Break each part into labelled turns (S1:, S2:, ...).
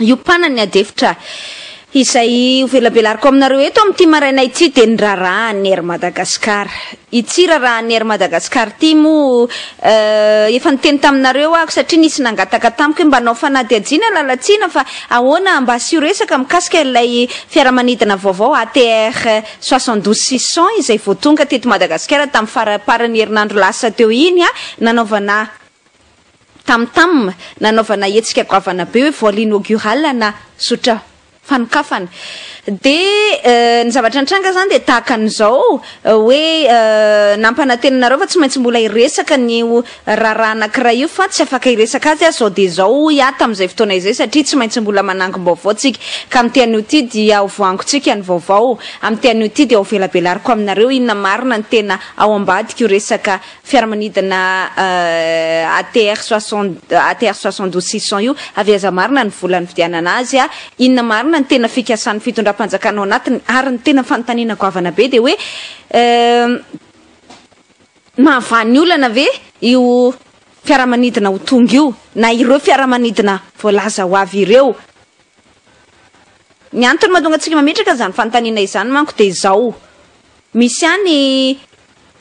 S1: hiompanan'ny adefitra izay hovelabelariko aminareo eto amin'ity maraina ity dia ny raharahan'ny Air Madagascar. Ity raharahan'ny Air Madagascar ity moa eh, efa niteny taminareo aho satria nisy nangataka tamiko hoe mba hanao fanadihadiana lalatsina fa ahoana mba asio resaka mikasika ilay fiaramanidina vaovao ATR 72 600 izay vao tonga teto Madagasikara tamin'ny faraparan'ny herinandro lasa teo iny ah, nanaovana tam-tam nanaovana hetsika goavana be hoe vol inaugural na zotra fanokafana dia ny zavatra nitranga izany dia tahaka an'izao hoe nampanantena anareo fa tsy maintsy mbola hiresaka ny io raharaha anankiray io fa tsy afaka hiresaka azy aho izao dia izao hoy aho tamin'izay fotoana izay satria tsy maintsy mbola manangom-baovao tsika ka amin'ity anio ity dia ho voangontsika ny vaovao amin'ity anio ity dia ho velabelariko aminareo inona marina ny tena ao ambadik'io resaka fiaramanidina ATR soixante ATR soixante douze six cent io, avy aiza marina ny vola nividianana azy, inona marina ny tena fikasan'ny fitondram-panjakana ao anatiny, ary ny tena fanontaniana goavana be dia hoe mahavan'ny olana ve io fiaramanidina ho tonga io na ireo fiaramanidina voalaza ho avy ireo? Ny antony mahatonga antsika mametraka izany fanontaniana izany manko dia izao, Misy ihany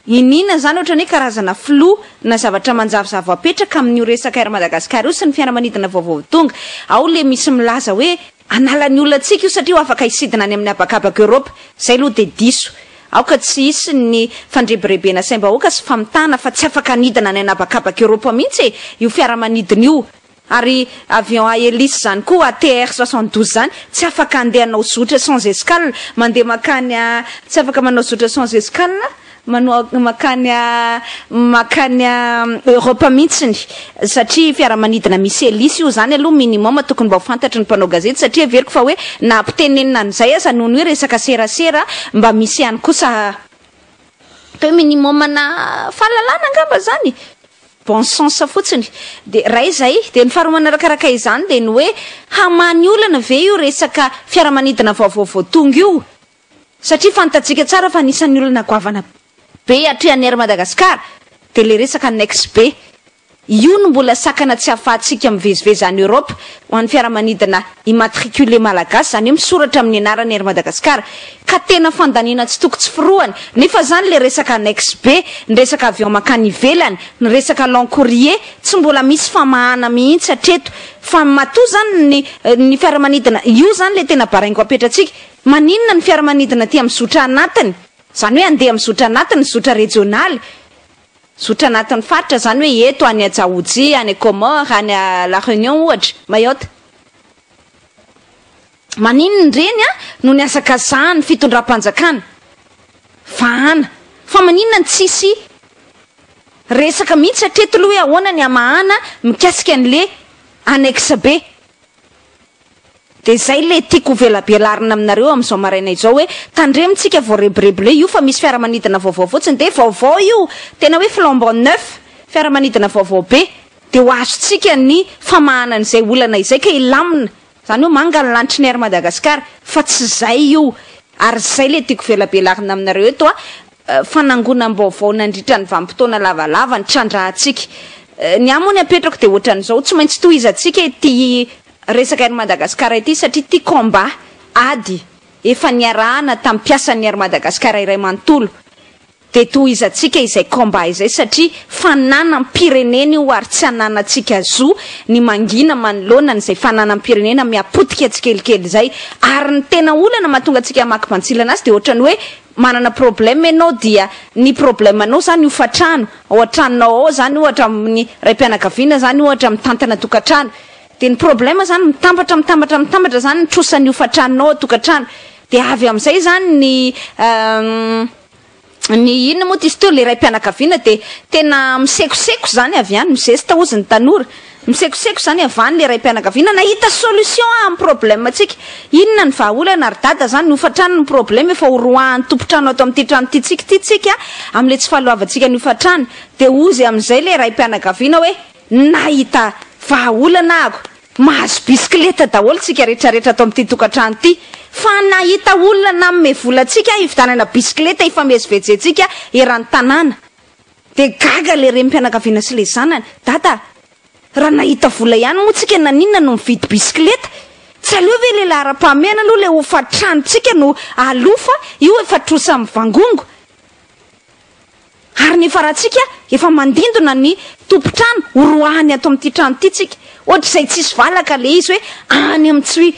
S1: iniana izany ohatran'ny hoe karazana filoha na zavatra manjavozavo apetraka amin'io resaka Air Madagascar io sy ny fiaramanidina vaovao tonga. Ao ilay misy milaza hoe hanala ny olona antsika io satria ho afaka hisidina any amin'ny habakabaka Europe. Izay aloha dia diso. Aoka tsy hisy ny fandrebirebena saim-bahoaka sy famitahana fa tsy afaka hanidina any an'habakabaka Europe mihitsy e! io fiaramanidina io. Ary avion à hélice zany koa ATR soixante douze zany tsy afaka andeha hanao zotra sans escale mandeha makany a tsy afaka manao zotra sans escale manoa makany a makany a Europe mihitsiny satria fiaramanidina misy hélice io zany aloha minimum tokony mba ho fantatry ny mpanao gazety satria heveriko fa hoe na ampitenenina an'izay aza noho ny hoe resaka serasera mba misy ihany kosa atao hoe minimum na fahalalana angamba zany. Bon sens fotsiny dia ray izay, dia ny faharoa manarakaraka izany dia ny hoe hamaha ny olana ve io resaka fiaramanidina vaovao vao tonga io? satria fantatsika tsara fa anisan'ny olana goavana be atrehan'ny Air Madagascar dia ilay resaka annex be io no mbola sakana tsy ahafahantsika mivezivezy any Europe ho an'ny fiaramanidina immatriculé malagasy izany hoe misoratra amin'ny anaran'ny Air Madagascar Ka tena fandaniana tsy toko tsy forohany, nefa zany le resaka annexe be, ny resaka avion mankany ivelany, ny resaka long courrier, tsy mbola misy famahana mihitsy hatreto, fa matoa zany ny ny fiaramanidina, io zany le tena baraingo apetratsika, maninona ny fiaramanidina aty am zotra anatiny, zany hoe andeha am zotra anatiny, zotra rejionaly, zotra anatin'ny faritra, zany hoe eto any Djaoudjia, any Comores, any La Reunion ohatra, Mayotte. Maninona ireny an no ny asakasahan'ny fitondram-panjakana? Vahana. Fa maninona no tsisy resaka mihitsy hatreto aloha hoe ahoana ny hamahana mikasika an'ilay annexe be? Dia izay ilay tiako hovelabelarina aminareo amin'izao maraina izao hoe tandremintsika voarebirebile io fa misy fiaramanidina vaovao fotsiny dia vaovao io, tena hoe flambant neuf, fiaramanidina vaovao be dia ho azontsika ny famahana an'izay olana izay ka hilamina. Zany hoe manga ny lanitry ny Air Madagascar fa tsy zay io ary zay le tiako velabelarina aminareo eto a fanangonam-baovao nandritra ny vanim-potoana lavalava ny trandrahantsika ny ahy moa ny apetrako de ohatran'izao tsy maintsy tohizantsika ity resaka Air Madagascar ity satria ity combat ady efa niarahana tamin'ny mpiasan'ny Air Madagascar iray manontolo Dia tohizantsika izay combat izay satria fananam-pirenena io ary tsy ananantsika zo ny mangina manoloana an'izay fananam-pirenena mihapotika tsikelikely izay. Ary ny tena olana mahatonga antsika hamaky bantsilana azy dia ohatrany hoe manana problème ianao dia ny problème anao izany hofantrano, ao an-tranonao ao izany ohatra amin'ny raim-pianakaviana izany ohatra mitantana tokantrano dia ny problème izany mitambatra mitambatra mitambatra izany ny trosan'ny hofantranonao ao an-tokantrano dia avy amin'izay izany ny Ny inona moa tisto le raim-pianakaviana de tena misekoseko zany avy any mizesta ozy ny tanora misekoseko zany avy any le raim-pianakaviana nahita solution amin'ny problème tsika inona ny vahaolana ry dada zany hofatrany ny problème efa horoahan'ny tompon-trano ato amin'ity trano ity tsika ity tsika amin'le tsy fahaloavantsika ny hofatrany de ozy amin'izay le raim-pianakaviana hoe nahita vahaolana aho Mahazo bisikileta daholo tsika rehetra rehetra ato amin'ity tokantrano ity. Fa nahita olona nanome vola antsika hividanana bisikileta hifamezivezentsika eran'ny tanàna. Dia gaga ilay renim-pianakaviana sy ilay zanany. Dada, raha nahita vola ihany moa tsika naninona no mividy bisikileta? Tsy aleo ve ilay laharam-pahamehana aloha ilay hofan-tranontsika no aloa fa io efa trosa mivangongo. Ary ny farantsika efa mandindona ny tompon-trano horoahany ato amin'ity trano ity tsika. Ohatr'izay tsisy valaka le izy hoe any amin'ny tsy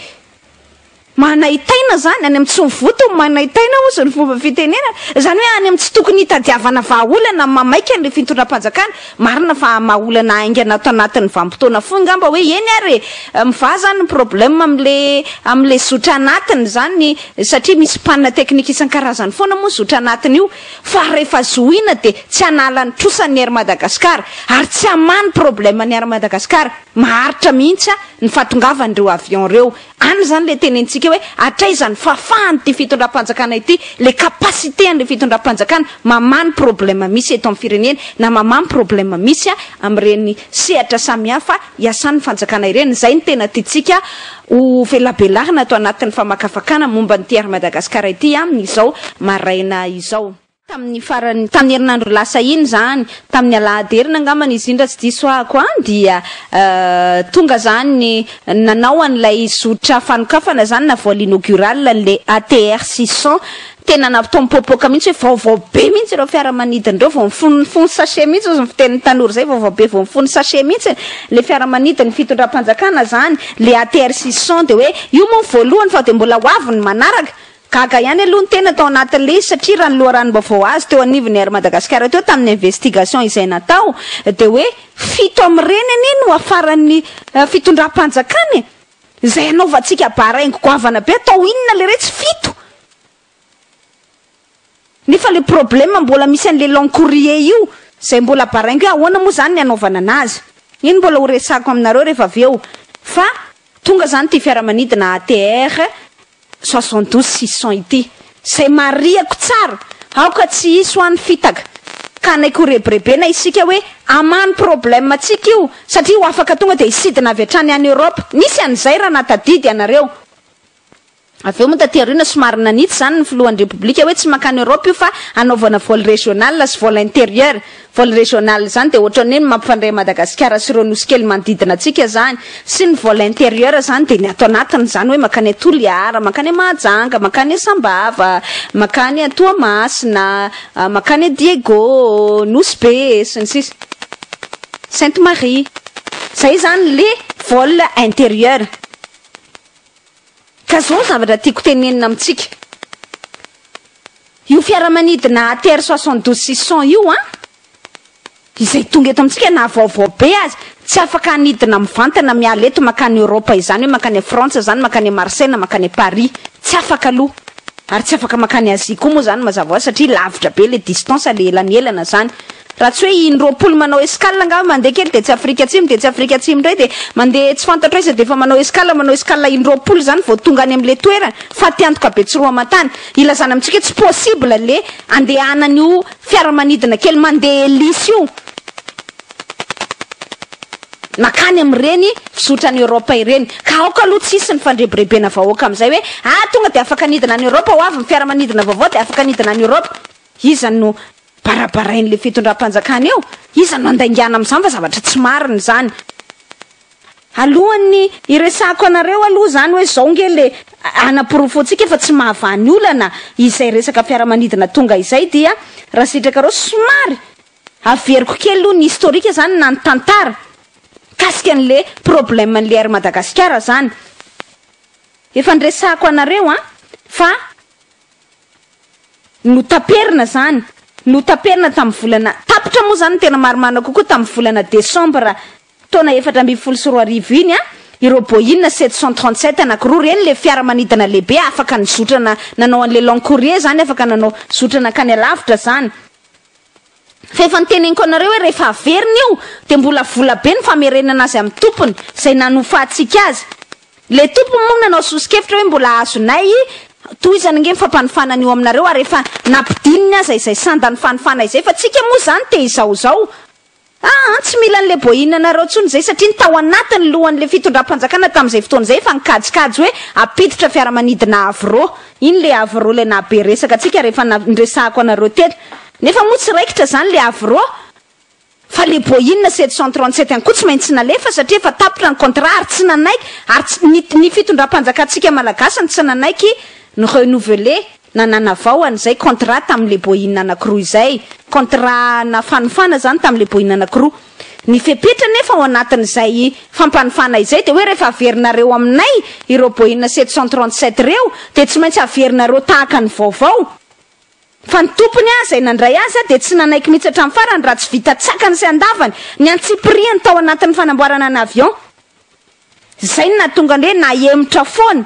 S1: manaitaina zany, any amin'ny tsy mivoto ny manaitaina hozy ny fomba fitenenana. Zany hoe any amin'ny tsy tokony hitadiavana vahaolana mamaika ny fitondram-panjakana. Marina fa hamaha olana haingana ato anatin'ny vanim-potoana fohy ngamba hoe eny ary e! Mivaha zany ny problème amin'le amin'le zotra anatiny zany satria misy panne technique isan-karazany foana moa zotra anatiny io. fa rehefa zohiana dia tsy hanala ny trosa ny Air Madagascar ary tsy hamaha ny problème ny Air Madagascar, maharitra mihitsy an ny fahatongavan ireo avion ireo, any izany ilay tenentsika hoe hatraiza ny fahafahan ity fitondram-panjakana ity, ilay capacité an ilay fitondram-panjakana mamaha ny problème misy eto amin'ny firenena na mamaha ny problème misy an amin'ireny sehatra samihafa iasan ny fanjakana ireny, izay no tena tiantsika Ho velabelarina ato anatin'ny famakafakana momba an'ity Air Madagascar ity aminy izao maraina izao. Tamin'ny farany, tamin'ny herinandro lasa iny izany, tamin'ny alahady heriny angamba ny iziny raha tsy diso ahako an, dia tonga izany nanao an'ilay zotra fanokafana izany na vol inaugural an'ilay ATR 600 Tena nampipoapoaka mihitsy hoe vaovao be mihitsy ireo fiaramanidina ireo, vao mifono mifono sachet mihitsy hozy ny fitenin'ny tanora izay, vaovao be vao mifono sachet mihitsy ilay fiaramanidin'ny fitondram-panjakana izany, ilay ATR 600 dia hoe io moa ny voalohany fa dia mbola ho avy ny manaraka. Gaga ihany aloha ny tena tao anatin'ilay izy satria raha ny loharanom-baovao azo teo anivon'ny Air Madagascar teo tamin'ny investigation izay natao dia hoe fito amin'ireny anie no hafaran'ny fitondram-panjakana e! Izay anaovantsika bar haingo goavana be atao inona leretsy fito nefa le problème mbola misy an'le long courrier io zay mbola bar haingo hoe ahoana moa zany ny anaovana anazy iny mbola ho resako aminareo rehefa avy eo fa tonga zany ty fiaramanidina ATR soixante douze six cents ity izay marihako tsara aoka tsy hisy ho any fitaka ka anaiky ho rebirebena isika hoe amany problème antsika io satria ho afaka tonga dia hisidina avy hatrany any Europe nisy an'izay raha nahatadidy ianareo avy eo moa taty aoriana somary nanitsy izany ny filohan'ny repoblika hoe tsy mankany Europe io fa hanaovana vol régional sy vol intérieur Vol régional zany de otrany hoe ny mampifandray Madagasikara sy ireo nosy kely manodidina antsika zany sy ny vol intérieur zany de ny ato anatiny zany hoe mankany a Toliara, mankany a Mahajanga, mankany a Sambava, mankany a Toamasina, mankany a Diego, Nosy Be sy ny sisa Sainte Marie. Zay zany le vol intérieur. Ka zao ny zavatra tiako tenenina amintsika io fiaramanidina ATR soixante douze six cent io an! izay tonga eto amintsika na vaovao be aza tsy afaka hanidina mivantana miala eto makany Europe izany hoe makany Frantsa izany makany Marseille na makany Paris tsy afaka aloha ary tsy afaka makany Asie koa moa izany mazava hoazy satria lavitra be ilay distance le ela ny elana izany Raha tsy hoe in roapolo manao escale angaha mandeha kely dia tsy Afrika Atsimo dia tsy Afrika Atsimo indray dia mandeha tsy fantatro aiza dia efa manao escale manao escale in roapolo izany vao tonga any amin'ilay toerana fatiantoka Betsiroamatany. Ilazana amintsika hoe tsy possible le andehanan'io fiaramanidina kely mandeha hélice io makany amin'ireny fizotran'i Europe ireny ka aoka aloha tsy hisy ny fandrebirebena vahoaka amin'izay hoe ah tonga dia afaka nidina any Europe ho avy ny fiaramanidina vaovao dia afaka nidina any Europe. Iza no. barabarain'ilay fitondram-panjakana eo? Iza no handaingana amin'izany fa zavatra tsy marina izany. Alohan'ny hiresahako anareo aloha izany hoe izao nge le hanaporofoantsika fa tsy mahavaha ny olana izay resaka fiaramanidina tonga izay dia raha sitrakareo somary averiko kely aloha ny historique izany na ny tantara mikasika an'le problème an'le Air Madagasikara izany. Efa niresahako anareo an fa Notaperina izany. Notaperina tamin'ny volana, tapitra moa izany ny tena marimarina kokoa tamin'ny volana desambra taona efatra ambin'ny folo sy roa arivo iny ireo Boeing sept cent trente sept anankiroa ireny, ilay fiaramanidina lehibe afaka nizotrana nanao an'ilay long courrier izany, afaka nanao zotra nankany alavitra izany. Fa efa noteneniko anareo hoe rehefa averina io dia mbola vola be ny famerenana azy amin'ny tompony izay nanofantsika azy. Ilay tompony moa nanao soso-kevitra hoe mbola azonay tohizana ange ny fampanofanana io aminareo ary efa nampidininy aza izay sandan'ny fanofana izay fa tsika moa izany te izao izao Ah an, tsy mila an'ilay boahinina anareo intsony izay satria ny tao anatin'ny lohan'ilay fitondram-panjakana tamin'izay fotoana izay efa nikajikajy hoe hampiditra fiaramanidina avo roa. Iny ilay avo roa ilay nahabe resaka antsika rehefa niresahako anareo teny. Nefa moa tsy raikitra izany ilay avo roa fa ilay boahinina sept cent trente sept ihany koa tsy maintsy nalefa satria efa tapitra ny contrat ary tsy nanaiky ary ny fitondram-panjakantsika malagasy no tsy nanaiky ni-renouveler na nanavao an'izay contrat tamin'ilay boina anankiroa izay, contrat na fanofana izany tamin'ilay boina anankiroa. Ny fepetra anefa ao anatin'izay fampanofana izay dia hoe rehefa averinareo aminay ireo boina sept cent trente sept ireo dia tsy maintsy averinareo tahaka ny vaovao fa ny tompony izay nandray azy dia tsy nanaiky mihitsy hatramin'ny farany raha tsy vita tsakany sy andavany ny antsipiriany tao anatin'ny fanamboarana ny avion. Izay no nahatonga ny hoe nahemotra foana.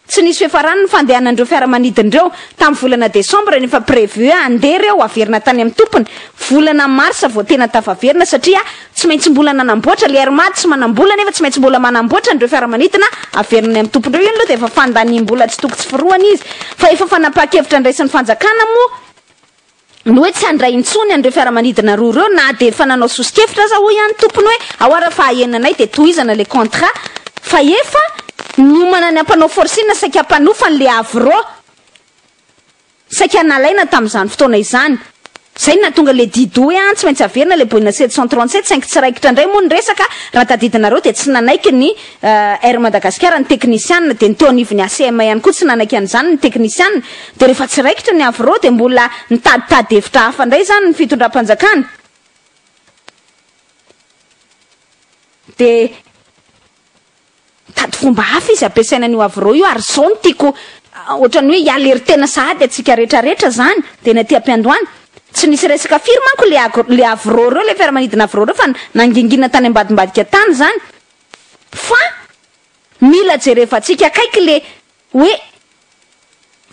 S1: Tsy nisy fiafarany ny fandehanan'ireo fiaramanidina ireo tamin'ny volana desambra nefa prévu handeha ireo haverina tany amin'ny tompony volana marsa vao tena tafaverina satria tsy maintsy mbola nanamboatra le air mad sy manambola nefa tsy maintsy mbola manamboatra an'ireo fiaramanidina haverina any amin'ny tompony ireo io aloha dia efa fandaniam-bola tsy toko tsy firohany izy fa efa fanapahan-kevitra andraisan'ny fanjakana moa ny hoe tsy handray intsony an'ireo fiaramanidina roa ireo na dia efa nanao soso-kevitra aza hoy ihany tompony hoe ao ara fahaenanay dia tohizana ilay contrat fa efa niomana ny hampanao forcing saika hampanofany ilay Havre saika nalaina tamin'izany fotoana izany izay no nahatonga ilay didy hoe an tsy maintsy averina ilay Boeing sept cent trente sept saingy tsy raikitra indray moa ny resaka raha tadidinareo dia tsy nanaiky ny Air Madagasikara ny teknisianina dia ny teo anivon'ny ACM ihany koa tsy nanaiky an'izany ny teknisianina dia rehefa tsy raikitra ny Avro dia mbola nitaditady hevitra hafa indray izany ny fitondram-panjakana dia nitady fomba hafa izy hampiasaina an'io Avro io ary izao no tiako ohatran'ny hoe hialeritena sahady antsika rehetrarehetra izany dia ny aty am-piandohana tsy nisy resaka firy manko ilay Avro ireo ilay fiaramanidina Avro ireo fa nangingina tany ambadimbadika tany izany Fa mila jerevantsika akaiky le hoe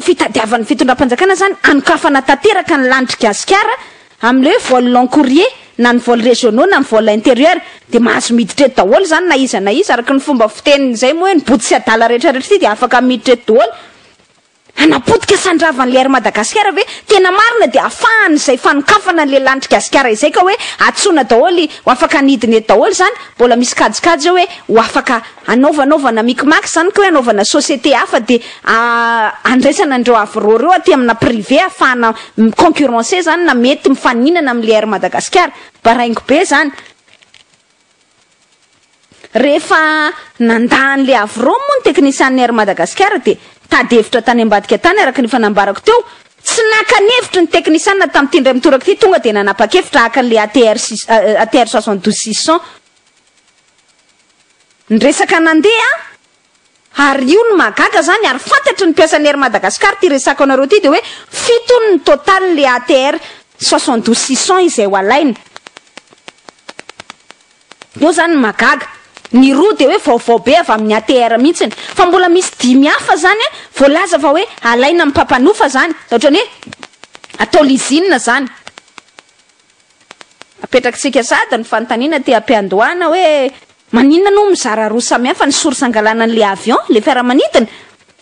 S1: fitadiavan'ny fitondram-panjakana zany hanokafana tanteraka ny lanitr'i Gasikara amin'le hoe vol long courrier na ny vol régionaux na ny vol intérieur de mahazo miditra eto daholo zany na iza na iza araky ny fomba fitenin'izay moa hoe ny boto sy adala rehetra rehetra ity de afaka miditra eto daholo Hanapotika sandravan' le Air Madagasikara ve? Tena marina dia afahan' izay fanokafana an' le lanitry Gasikara izay ka hoe atsoina daholo ho afaka ny hidina eto daholo zany mbola misy kajikajy eo hoe ho afaka anaovanaovana micmac zany ka hoe anaovana société hafa de andraisana an' ireo aviraux ireo aty amina privé afahana mi concurrencer zany na mety mifaninana amin' le Air Madagasikara. Baraingo be zany. Rehefa nandà an'i Le Havreau moa ny teknisianina Air Madagasikara dia tady hevitra tany ambadika tany araka ny efa nambarako teo, tsy naka ny hevitry ny teknisianina tamin'ity indray mitoraka ity tonga dia nanapa-kevitra haka an'ilay ATR six cent douze six cents. Ny resaka nandeha. Ary io no mahagaga zany ary fantatry ny mpiasan'ny Air Madagascar ty resako anareo ty de hoe fito hono ny total le ATR soixante douze six cents izay ho alaina. Eo zany ny mahagaga. Ny roa de hoe vaovao be avy amin'ny ATR mihitsiny. Fa mbola misy dimy hafa zany voalaza fa hoe alaina amin'ny mpampanofa zany. Ohatrany hoe atao lizina zany. Apetrakitsika sady ny fanontaniana te hampiandohana hoe maninona no mizara roa samihafa ny source angalana an'ilay avion, ilay fiaramanidina?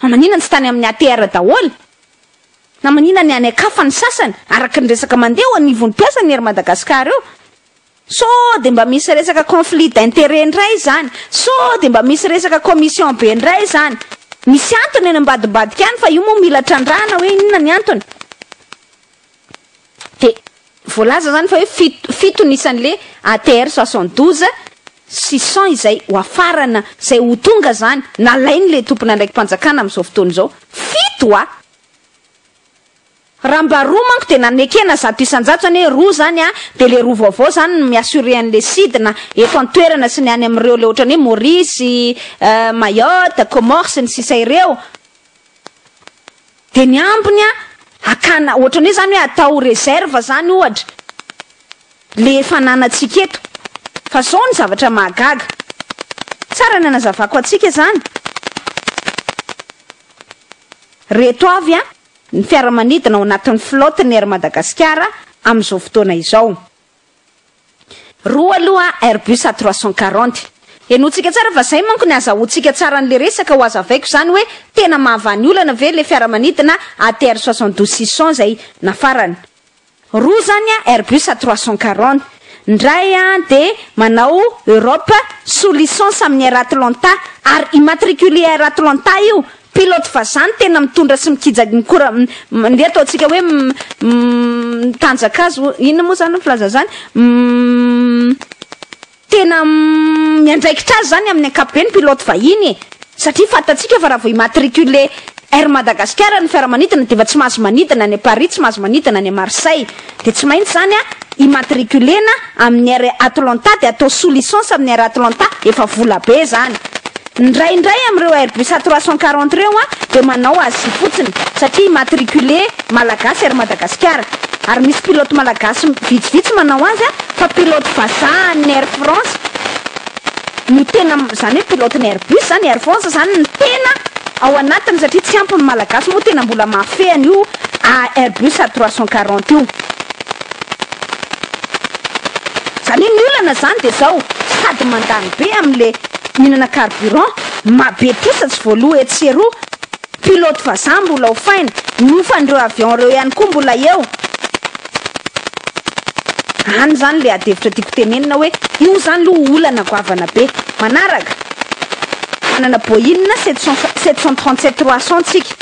S1: Na maninona no tsy tany amin'ny ATR daholo? Na maninona ny any an-kafa ny sasany? Araka ny resaka mandeha eo anivon'ny mpiasan'ny Air Madagascar eo, sao dia mba misy resaka conflit d'intérêt indray izany? Sao dia mba misy resaka commission be indray izany? Misy antony any ambadimbadika any fa io moa mila trandrahana hoe inona ny antony? Dia voalaza izany fa hoe fito, fito ny isan'ilay ATR 72 sy 100 izay ho afarana, izay ho tonga izany, nalain'ilay tompon'andraiki-panjakana amin'izao fotoana izao. Fito a! Raha mba roa manko dia nanekena zato isan-jato izany hoe roa izany a! Dia ilay roa vaovao izany no mi-assurer an'ilay sidina eto an-toerana sy ny any amin'ireo ilay ohatran'ny hoe Maurice, Mayotte, Comores sy ny sisa ireo. Dia ny ambiny an, hakana, ohatran'ny hoe izany hoe atao réserve izany ohatra, ilay efa ananantsika eto. Fa izao ny zavatra mahagaga. Tsara ny anazavako antsika izany. Ireto avy an, ny fiaramanidina ao anatin'ny flotte-n'ny Air Madagasikara amin'izao fotoana izao. Roa aloha Airbus A trois cent quarante. Henointsika tsara fa zay manko ny azahoantsika tsara an'le resaka ho azavaiko zany hoe tena mahavany olana ve le fiaramanidina ATR soixante douze six cents zay nafarana. Roa zany a Airbus A trois cent quarante. Ndray a de manao Europe sous licence amin'ny Air Atlanta ary immatriculé Air Atlanta io Pilote vazaha no tena mitondra sy mikija ny kora mandeha ataontsika hoe mitanjaka azy ho inona moa izany ny filaza izany? tena miandraikitra azy izany amin'ny ankapobeny pilote vahiny e! satria fantatsika fa raha vao immatriculer Air Madagascar ny fiaramanidina dia efa tsy mahazo manidina any Paris, tsy mahazo manidina any Marseille. Dia tsy maintsy izany an, immatriculena amin'ny Air Atlanta dia atao sous licence amin'ny Air Atlanta, efa vola be izany. Ny iray indray amin'ireo Airbus A trois cent quarante ireo an dia manao Asie fotsiny, satria immatricule Malagasy Air Madagasikara. Ary misy pilote Malagasy vitsivitsy manao azy an, fa pilote vazaha an'ny Air France no tena, izany hoe pilote ny Airbus izany, Air France izany no tena ao anatiny satria tsy ampy ny Malagasy moa tena mbola mahafehy an'io a Airbus a trois cent quarante io. Zany hoe ny olana zany de zao, sady mandany be am le mihinana carburant, ma be trosa tsy voaloa etsy sy eroa, pilote vazaha mbola hofaina, ny ofan'ireo avion reo ihany koa mbola eo. Any zany le adihevitra tiako tenenina hoe io zany lo olana goavana be. Manaraka, manana Boeing sept cent trente sept trois cent tsika,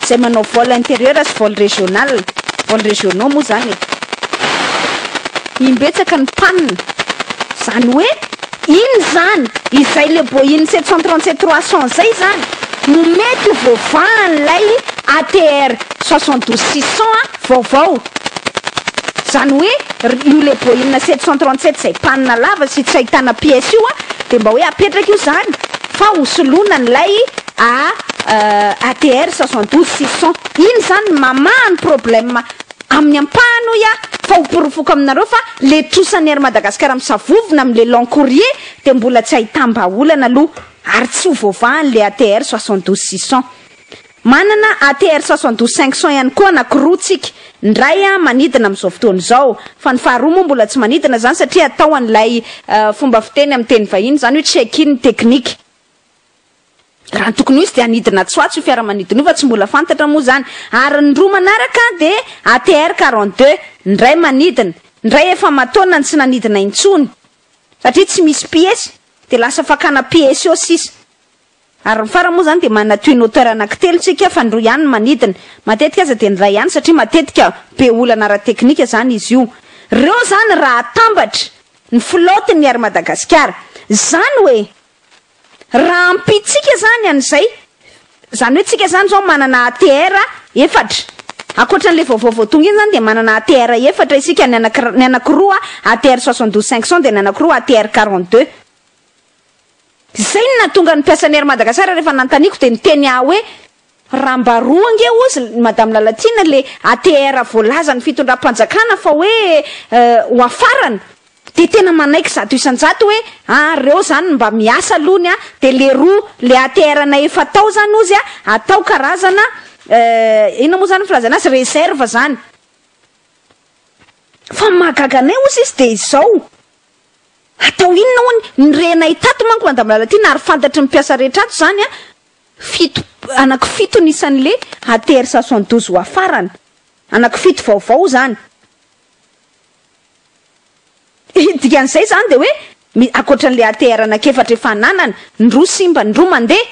S1: izay manao vol intérieur sy vol régional, vol régionaux moa izany e. Imbetsaka ny panne. Izany hoe inona izany? Izay le Boeing sept cent trente sept trois cents izay izany no mety ho voavahan'ilay ATR soixante douze six cents vaovao. Izany hoe io le Boeing sept cent trente sept izay panne lava sy tsy ahitana pièce io dia mba hoe apetraka io izany fa hosoloana an'ilay AADR soixante douze six cent iny zany ny mamaha ny problème amin'ny ampahany hoy aho fa ho porofoko aminareo fa le trosan'ny Air Madagascar misavovona amin'ny le long courrier dia mbola tsy ahitam-bahaolana aloha ary tsy ho voavahan' le ATR soixante douze six cent manana ATR soixante douze cinq cent ihany koa anakiroa tsika ny ray an manidina amin'izao fotoana izao fa ny faharoa moa mbola tsy manidina izany satria atao an'ilay fomba fiteny amin'ny teny vahiny izany hoe check in technique Raha ny tokony ho izy dia hanidina Antswatso io fiaramanidina io fa tsy mbola fantatra moa izany. Ary ny roa manaraka dia ATR quarante deux, ny iray manidina, ny iray efa aman-taonany tsy nanidina intsony satria tsy misy piesy dia lasa fakana piesy eo sisa. Ary ny farany moa izany dia manana twin hauteur anankitelo isika fa ny roa ihany no manidina. Matetika aza dia ny iray ihany satria matetika be olana ara-teknika izany izy io. Ireo izany raha atambatra ny flotte-n'ny Air Madagasikara. Izany hoe. Rahampitsika izany an'izay, izany hoe tsika izany izao manana ATR efatra, ankoatra an'ilay vaovao vao tonga iny izany dia manana ATR efatra isika, ny anankiray, ny anankiroa ATR soixante douze cinq cent dia ny anankiroa ATR quarante deux. Izay no nahatonga ny mpiasan'ny Air Madagascar rehefa nanontaniako dia niteny ahy hoe Raha mba roa ange ozy ny Madame Lalatiana le ATR voalazan'ny fitondram-panjakana fa hoe ho afarana de tena manaiky zato isan-jato hoe a reo zany mba miasa aloha ny a de le roa le ATR anay efa tao zany ozy a atao karazana inona moa zany ny filazana azy reserve zany fa ny mahagaga anay ozy izy de izao atao inona hono ny renay tato manko Madame Lalatiana ary fantatry ny mpiasa rehetra ato zany a Fito, anaky fito ny isan'le ATR soixante-douze wa farany. Anaky fito vaovao zany. Ny dikan'izay zany dia hoe mi, akoatran'le ATR anaky efatra efa ananany, ny roa simba, ny roa mandeha,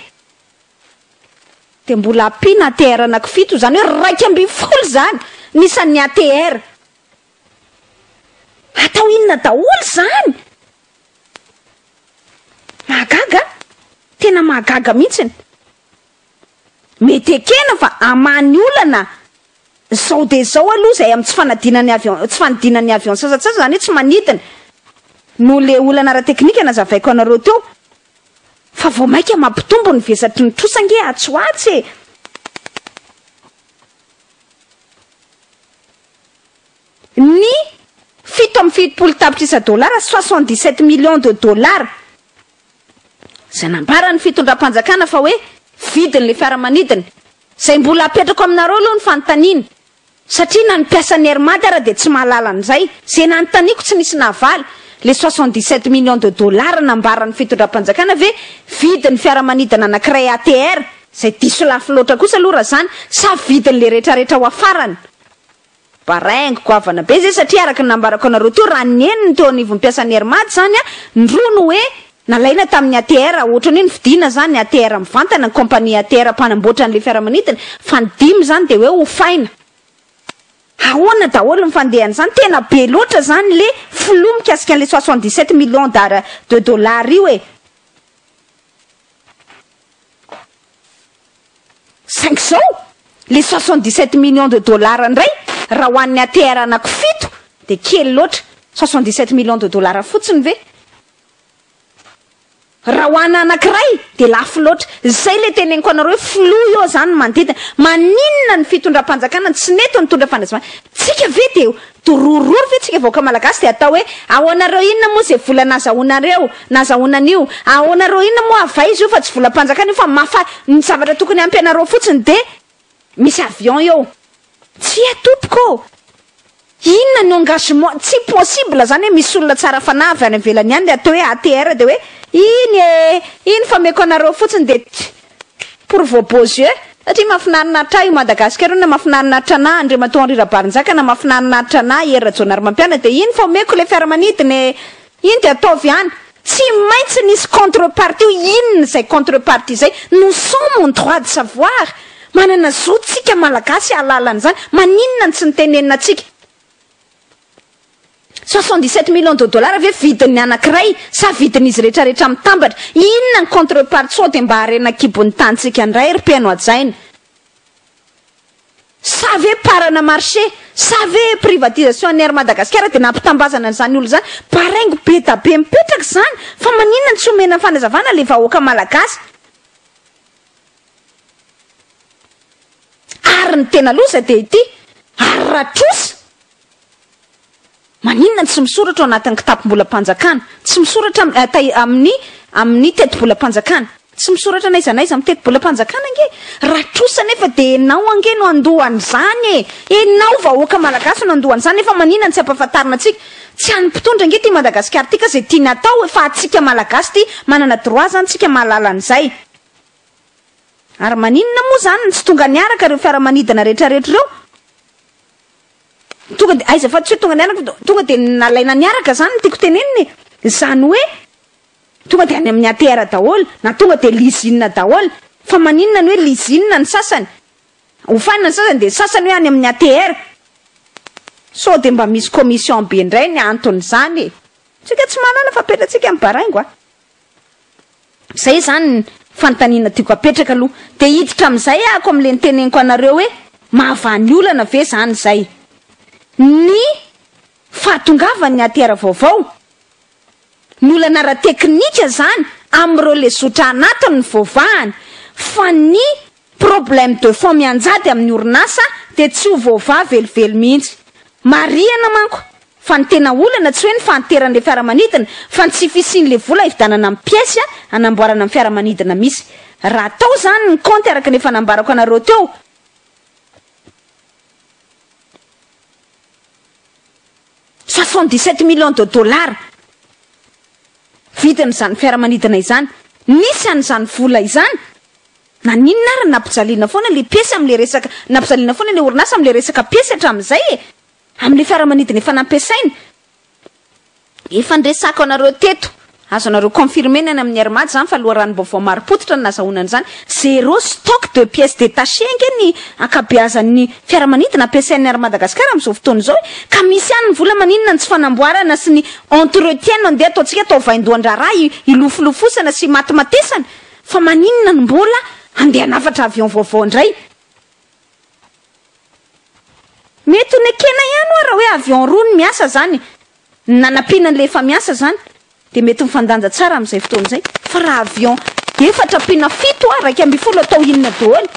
S1: dia mbola ampiana ATR anaky fito, izany hoe raika ambin'ny folo zany ny isan'ny ATR. Atao inona daholo izany? Mahagaga an! Tena mahagaga mihitsiny. Mety ekena fa hamany olana izao dia izao aloha izay amin'ny tsy fanadinana ny avion, tsy fanidinana ny avion sasantsasany, izany hoe tsy manidina, noho ilay olana ara-teknika nazavaiko anareo teo. Fa vao mainka mampitombo ny vesatry ny trosa ange atsy ho atsy e! ny fito amby fitopolo tapitrisa dolara, soixante dix sept millions de dollars, izay nambaran'ny fitondram-panjakana fa hoe vidin'ilay fiaramanidina, izay mbola apetrako aminareo aloha ny fanontaniana, satria na ny mpiasan'ny Air Madi ara dia tsy mahalala an'izay, izay nanontaniako tsy nisy nahavaly, ilay soixante dix sept millions de dollars nambaran'ny fitondram-panjakana ve vidin'ny fiaramanidina anankiray ATR, izay diso lafo loatra kosa aloha raha izany, sa vidin'ilay rehetrarehetra ho afarany? Baraingo, goavana be zay satria araka ny nambarako anareo teo raha ny eniny teo anivon'ny mpiasan'ny Air Mad zany a, ny roa no hoe nalaina tamin'ny ATR ohatrany hoe novidiana zany ATR mivantana ny compagnie ATR mpanamboatra an'ilay fiaramanidina fa ny dimy zany dia hoe hofaina. Ahoana daholo ny fandehan'izany? Tena be loatra zany le flou mikasika an'ilay soixante dix sept millions d'ar de dollars io e! Saingy izao, ilay soixante dix sept millions de dollars indray, raha ho an'ny ATR anaky fito dia kely loatra. Soixante dix sept millions de dollars fotsiny ve? Raha ho ana anakiray dia lafo loatra. Izay ilay teneniko anareo hoe flou eo izany ny manodidina. Maninona ny fitondram-panjakana no tsy nety nitondra fandraisam-bahiny? Tsika ve dia Dorororo ve tsika vahoaka malagasy de atao hoe aonareo inona moa ze vola nazahonareo nazahona anio aonareo inona moa avay izy io fa tsy volampanjakana io fa mafa ny zavatra tokony ampy anareo fotsiny de misy avion eo tsia tompoko ô inona ny engagement tsy possible zany hoe misy olona tsara fanahy avy any avelany any le atao hoe ATR de hoe iny ee iny fa meko anareo fotsiny de pour vos beaux yeux satria mafinarinaritra ahy io Madagascar io na mafinarinaritra anah Andriamatoa Henri Rabarinjaka na mafinarinaritra anah Hery Rajaonarimampianina dia iny fa omeko ilay fiaramanidina e! iny dia ataovy ihany tsy maintsy nisy contre partie io inona izay contre partie izay nous sommes en droit de savoir manana zo tsika malagasy hahalala an'izany maninona no tsy nitenenina antsika Soixante-dix sept millions de dollars ve vidin'ny anankiray sa vidin'izy retraretra mitambatra? Inona ny contre part sao dia mba harena an-kibon'ny tanintsika indray ry mpeno hajaina? Sa ve parana marché? Sa ve privatisation an'ny Air Madagasikara dia nampitambazana an'izany olona izany? Baraingo be da be mipetraka izany fa maninona no tsy omena fanazavana ilay vahoaka malagasy? Ary ny tena loza dia ity, ary raha trosa? Maninona no tsy misoratra ao anatin'ny kitapom-bolam-panjakana? Tsy misoratra am, eh, tai, amin'ny, amin'ny tetibolam-panjakana? Tsy misoratra n'aiza n'aiza amin'ny tetibolam-panjakana ange? Raha trosa anefa dia ianao ange no handoa an'izany e! Ianao vahoaka malagasy no handoa an'izany, nefa maninona no tsy ampahafantarina antsika? Tsy an'ny mpitondra ange ity Madagasikara ity ka izay tiany hatao e, fa antsika malagasy ity, manana droit izany tsika mahalala an'izay. Ary maninona moa izany no tsy tonga niaraka ireo fiaramanidina rehetrarehetra ireo? Tonga dia aiza fa tsy hoe tonga niaraka fa tonga dia nalaina niaraka izany no tiako tenenina e! Izany hoe tonga dia any amin'ny ATR daholo na tonga dia lizina daholo. Fa maninona ny hoe lizina ny sasany? Hofanina ny sasany dia ny sasany hoe any amin'ny ATR. Sao dia mba misy commission be indray ny anton'izany e! Tsika tsy manana fa apetratsika amin'ny baraingo a! Izay izany ny fanontaniana tiako apetraka aloha. Dia hiditra amin'izay aho ko amin'ilay niteneniko anareo hoe mahavaha-ny olana ve izany izay. Ny fahatongavan'ny ATR vaovao, ny olana ara-teknika izany amin'ireo lesotra anatiny no voavahany fa ny Problème de fond mianjady amin'ny orinasa dia tsy ho voavaha velively mihitsy. Marihana manko fa ny tena olana tsy hoe ny fahanteran'ilay fiaramanidina fa ny tsy fisian'ilay vola hividanana amin'ny pièce hanamboarana ny fiaramanidina misy. Raha atao izany ny kaonty araka ny efa nambarako anareo teo, soixante dix sept millions de dollars vidin'izany fiaramanidina izany, nisy an'izany vola izany, Naninona ary nampijaliana foana ilay piesy amin'ilay resaka, nampijaliana foana ilay orinasa amin'ilay resaka piesy hatramin'izay e! Amin'ilay fiaramanidina efa nampiasainy. Efa niresahako anareo teto, azonareo confirmer ny any amin'ny Air Mad izany fa loharanom-baovao marim-pototra no nazahoana an'izany, zéro stock de pièces détachées ange ny ankabeazan'ny fiaramanidina ampiasain'ny Air Madagascar amin'izao fotoana izao e! Ka misy ihany ny vola, maninona ny tsy fanamboarana sy ny entretien no andeha ataontsika atao vaindohan-draharaha hilofolofosana sy himatimatesana? Fa maninona no mbola handeha hanafatra avion vaovao indray? Mety ho nekena ihany oa raha hoe avion roa no miasa zany, ny nanampiana an'ilay efa miasa zany dia mety mifandanja tsara amin'izay fotoana izay. Fa raha avion efatra ampiana fito oa raika ambin'ny folo atao inona doholy?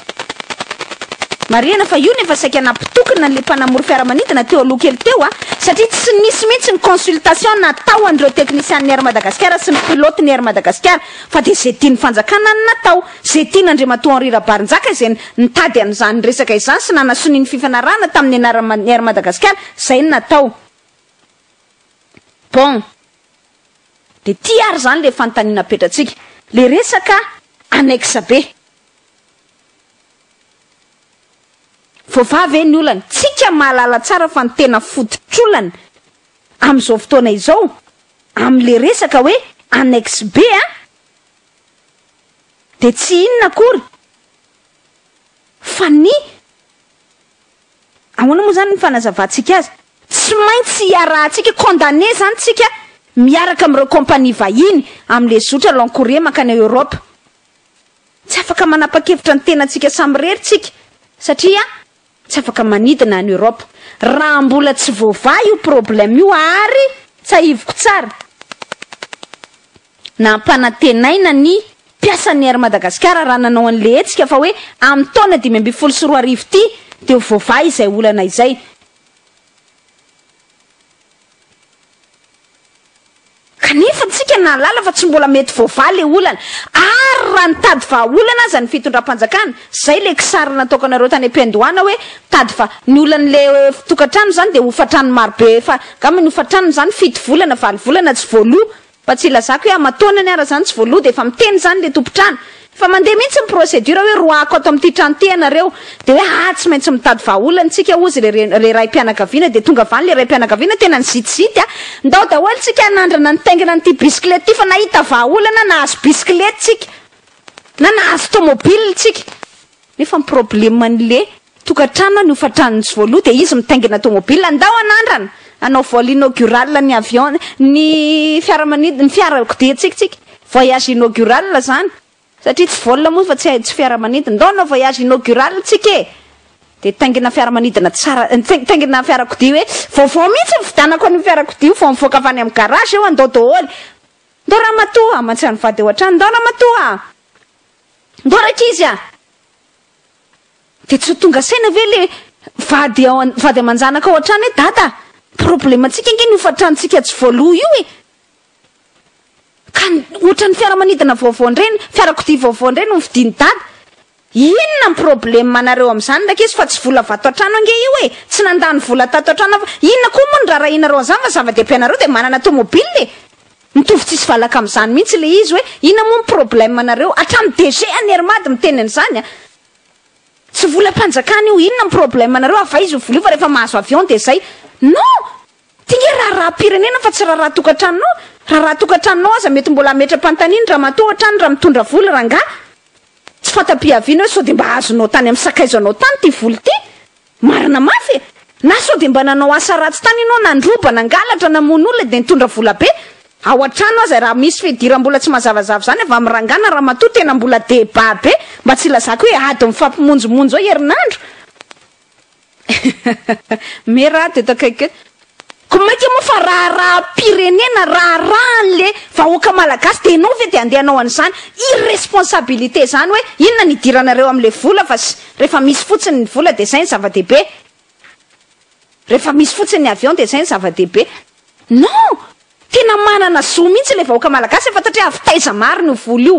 S1: Marihana fa io no efa saika nampitokona an'ilay mpanamory fiaramanidina teo aloha kely teo a! Satria tsy nisy mihitsy ny consultation natao an'ireo teknisian'ny Air Madagasikara sy ny pilote ny Air Madagasikara. fa dia izay tian'ny fanjakana no natao, izay tian'Andriamatoa Henri Rabarinjaka izay nitady an'izany resaka izany sy nanasonia ny fifanarahana tamin'ny anaran'ny Air Madagasikara izay no natao. Bon. Dia ity ary izany ilay fanontaniana apetratsika. Ilay resaka annexe be. Voavaha ve ny olana? Tsika mahalala tsara fa ny tena fototr'olana amin'izao fotoana izao amin'le resaka hoe annexe B an, dia tsy inona akory fa ny, ahoana moa izany ny fanazavantsika azy, tsy maintsy iarahantsika, condamner izany tsika miaraka amin'ireo compagnie vahiny amin'le zotra long courrier mankany Europe. Tsy afaka manapa-kevitra ny tenantsika samirery tsika satria, Tsy afaka manidina any Europe raha mbola tsy voavaha io problème io ary tsahiviko tsara nampanantenaina ny mpiasan'ny Air Madagasikara raha nanao an'le hetsika fa hoe amin'ny taona dimy ambin'ny folo sy roa arivo ity dia ho voavaha izay olana izay. Kanefa tsika nahalala fa tsy mbola mety voavaha le olana, ary raha nitady vahaolana aza ny fitondram-panjakana, zay le kisary nataokanareo tany am-piandohana hoe tady va, ny olan'le fitokantrano zany de hofantrano marobe efa angamba ny hofantranony zany fito volana, valo volana tsy voaloa, fa tsy ilazako hoe aman-taonany ara zany tsy voaloa de efa miteny zany le tompon-trano, Fa mandeha mihitsy ny procédure hoe roahako ato amin'ity trano ity ianareo dia hoe haa tsy maintsy mitady vahaolana isika hozy le le raim-pianakaviana dia tonga avy any le raim-pianakaviana tena nizitizity a! Ndao daholo isika hanandrana nitaingina an'ity bisikileta ity fa nahita vahaolana nahazo bisikileta isika na nahazo tomobile isika. Nefa ny probleman'le tokantrano ny hofantran'ny tsy voaloha dia izy mitaingina tomobila ndao hanandrana hanao vol inaugural ny avion ny fiaramanidina ny fiarakodiantsika tsika voyage inaugural zany satria tsy vol moa fa tsy fiaramanidina ndao hanao voyage inaugural tsika e dia taingina fiaramanidina tsara taingina fiarakodia hoe vaovao mihitsy mividanako an'io fiarakodia io vao mivoaka avy any amin'ny garage eo andao daholo ndao ramatoa aman-tsy an'ny vady eo hatrany ndao ramatoa Ndao rankizy a! Dia tsy ho tonga saina ve le vady ao an, vady aman-janaka ao an-trano hoe dada a! Problemantsika ange ny hofan-tranontsika tsy voaloa io e! Ka ohatran'ny fiaramanidina vaovao indray ny, fiarakodia vaovao indray no novidian'i dada! Inona ny problemanareo amin'izany rankizy fa tsy vola vato an-trano ange io e! Tsy nandany vola tato an-trano aho fa inona koa moa no raharahianareo an'izany fa zava-dehibe anareo dia manana tomobile e! Mitovy tsisy valaka amin'izany mihitsy ilay izy hoe inona moa ny problème anareo? Hatramin'ny DG an'i Hermady miteny an'izany an! Tsy volam-panjakana io, inona ny problème anareo? Havaizy ny vola io fa rehefa mahazo avion dia izay. Non! Ity nge raharaham-pirenena fa tsy raharaha tokantranonao. Raharaha tokantranonao aza mety mbola hametra-panontaniana ramatoa hatrany raha mitondra vola rangahy. Tsy fanta-piaviana hoe sao dia mba azonao tany amin'ny sakaizanao tany ity vola ity? Marina mafy e! Na sao dia mba nanao asa ratsy tany ianao, nandroba, nangalatra, namono olona dia nitondra vola be. Ao an-trano aza raha misy fidiram-bola tsy mazavazava izany avy amin'ny rangahy na ramatoa tena mbola débat be, mba tsy ilazako hoe ady mifampimonjomonjo eo herinandro. Mera aho teto akaiky eo. Ko maika moa fa raharaham-pirenena, raharahan'le vahoaka malagasy dia enao ve dia andeha anao an'izany irresponsabilité izany hoe inona ny idiranareo amin'le vola fa sy rehefa misy fotsiny ny vola dia izay ny zava-dehibe, rehefa misy fotsiny ny avion dia izay ny zava-dehibe. Non! Tena manana zo mihitsy le vahoaka malagasy efa tatreha avy taiza marina io vola io.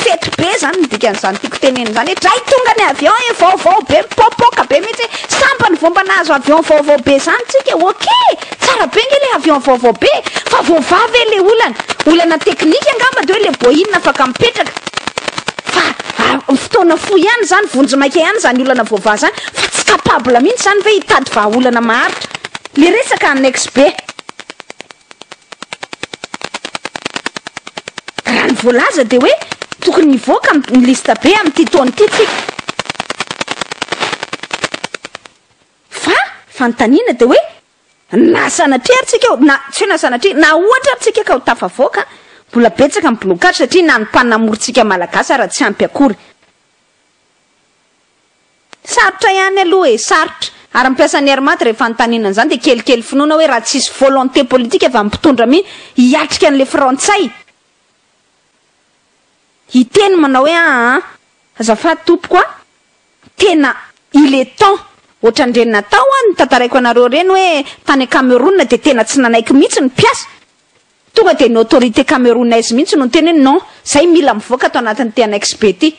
S1: Fety be zany ny dikan'izany tiako tenenina izany hoe dray tonga ny avion e vaovao be mipoapoaka be mihitsy hoe sambany ny vao mba nahazo avion vaovao be zany tsika e ok tsara be nge le avion vaovao be fa voavaha ve le olana olana teknika angamba de hoe le boeing afaka mipetraka fa a fotoana fohy ihany zany vonjy maika ihany zany olana voavaha zany fa tsy capable mihitsy zany ve hitady vahaolana maharitra le resaka annexe be. Raha ny voalaza dia hoe tokony hivoaka ny liste B amin'ity taona ity tsika. Fa fanontaniana dia hoe na sanatria ary tsika ho, na tsy hoe na sanatria, na ohatra ary tsika ka ho tafavoaka, mbola betsaka ny blocage satria na ny mpanamory tsika Malagasy ara tsy ampy akory. Sarotra ihany aloha e, sarotra. Ary ny mpiasan'ny Air Mat rehefa anontaniana an'izany dia kelikely finoana hoe raha tsy hisy volonté politique avy amin'ny mpitondra mi hiatrika an'ilay frantsay, hiteny manao hoe aa, azafady tompoko a, tena il est temps, ohatran'ireny natao an, notantaraiko anareo ireny hoe tany Cameroun dia tena tsy nanaiky mihitsy ny mpiasa, Tonga dia ny autorité camerounaise mihitsy no niteny hoe non, izay mila mivoaka ato anatin'ny ity annexe be ity.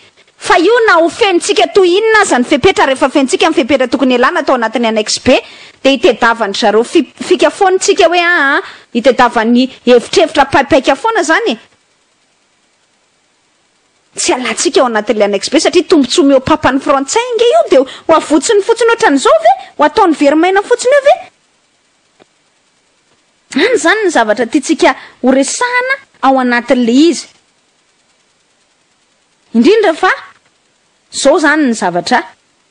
S1: Fa io na ho fenontsika toy inona aza ny fepetra, rehefa fenontsika ny fepetra tokony hialana tao anatin'ny annexe be, dia itedavan-dry zareo fi, fika foana isika hoe aa, itedavan'ny hevitrevitra paipaika foana izany e. Tsy alantsika ao anatin'ilay annexe be satria tombontsoa mihoapapan'ny frantsay ange io, dia ho avotsiny fotsiny ohatran'izao ve? Ho ataony very maina fotsiny eo ve? Any izany ny zavatra tiantsika ho resahana ao anatin'ilay izy. Indrindra fa izao izany ny zavatra